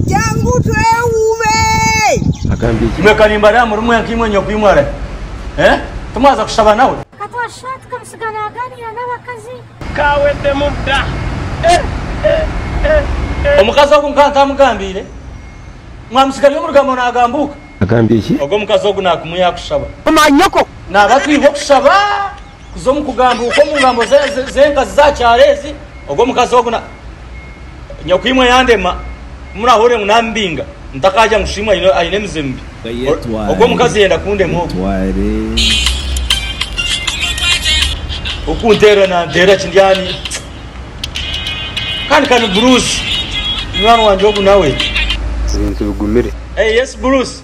Jangu twehube! Agambire ki? Imwe karimba rya muri mwenka imwe nyokwa imwe arahe? Eh? Timwaza kushaba nawe? Ka twashuha tukamusiga nagaaniira n'abakazi. Ka wedemu da! Eh! Eh! Eh! Eh! Omukazi ogu nka ntamugambiire? Mwamusiga ari omu rugambo nagambuuka? Agambire ki? Ogu omukazi ogu nakumwiha kushaba. Omanyoko. Nabatwiha okushaba! Kuza omu kugambuuka omu ngambo z'enkazi za kyaro ezi, ogwo omukazi ogu na Nyakuimwe yandema, murahurire ngu nambinga, ntakaagya ngu Shiimwe aine emize mibi. Ogwo omukazi yenda kundema ogu. Okunteerera nanteerera kindyani kandi ka ni Bruce munywani wangye ogu nawe. Ebintu bigumire. Yes Bruce.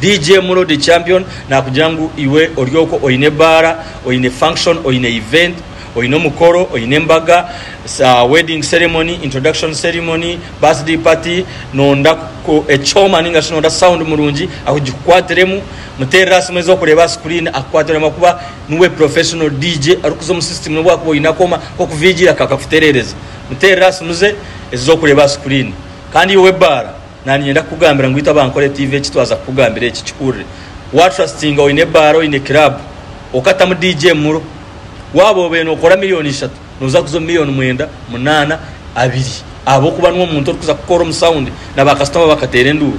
DJ Mulo the champion nakugira ngu iwe ori okwo oyine ebaara, oyine function, oyine event, oyine omukoro, oyine embaga, sa wedding ceremony, introduction ceremony, birthday party, nonda ku ekyoma ninga shi nonda sound murungi akugikukwatiremu, muterere aha simu eze okureeba aha screen akukwatiremu akuba niwe professional DJ arikuza omu system nobu wakuba oyine akooma koku vigira kakakuterereza. Muterere aha simu ze eze okureeba aha screen. Kandi iwe owe baara Naninyenda kukugambira ngu itwe abankore TV eki twaza kukugambira eki kihurire, watrustinga oyine baara oyine club okatamu DJ Mulo waaba obaire nokora million ishatu noza kuza omu million mwenda, munaana, abiri ahabwokuba niwe omuntu orikuza kukora omu sound na ba customer bakateera enduuru.